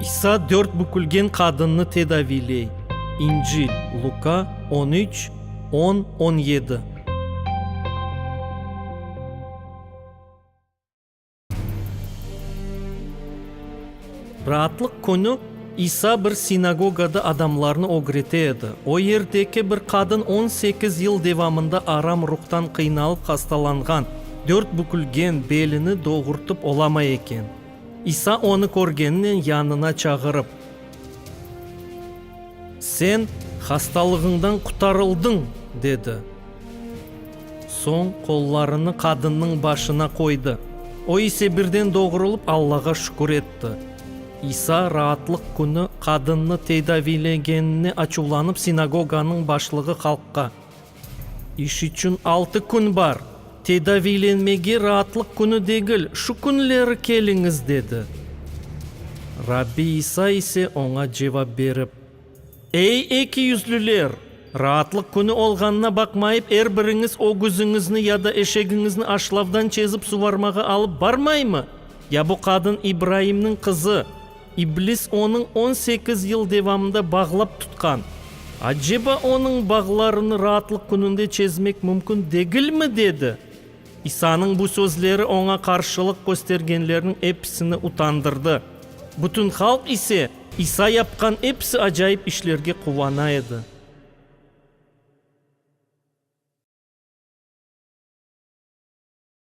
İsa dört bükülgen qadınnı tedaviyley. İncil, Luka, on üç, on, on yedi. Raatlıq künü İsa bir sinagogada adamlarnı ögrete edi. O yerdeki bir qadın on sekiz yıl devamında aram ruhtan qıynalıp hastalanğan, dört bükülgen, belini doğurtıp olamay eken. İsa onı körgeninen yanına çağırıp, Sen hastalığıñdan qutarıldıñ! dedi. Soñ qollarını qadınnıñ başına qoydı. O ise birden doğrulıp Allağa şükür etti. İsa Raatlıq künü qadınnı tedaviylegenine açuvlanıp sinagoganıñ başlığı halqqa, İş içün altı kün bar, tedaviylenmege Raatlıq künü degil, şu künleri keliñiz, dedi. Rabbi İsa ise oña cevap berip. Ey, eki yüzlüler! Raatlıq künü olğanına baqmayıp, er biriñiz ögüziñizni ya da eşegiñizni aşlavdan çezip suvarmağa alıp barmaymı? Ya bu qadın İbraimniñ qızı? İblis onıñ on sekiz yıl devamında bağlap tutqan. Aceba onıñ bağlarını Raatlıq kününde çezmek mümkün degilmi? dedi. İsanıñ bu sözleri oña qarşılıq köstergenlerniñ episini utandırdı. Bütün halq ise İsa yapqan episi acayip işlerge quvana edi.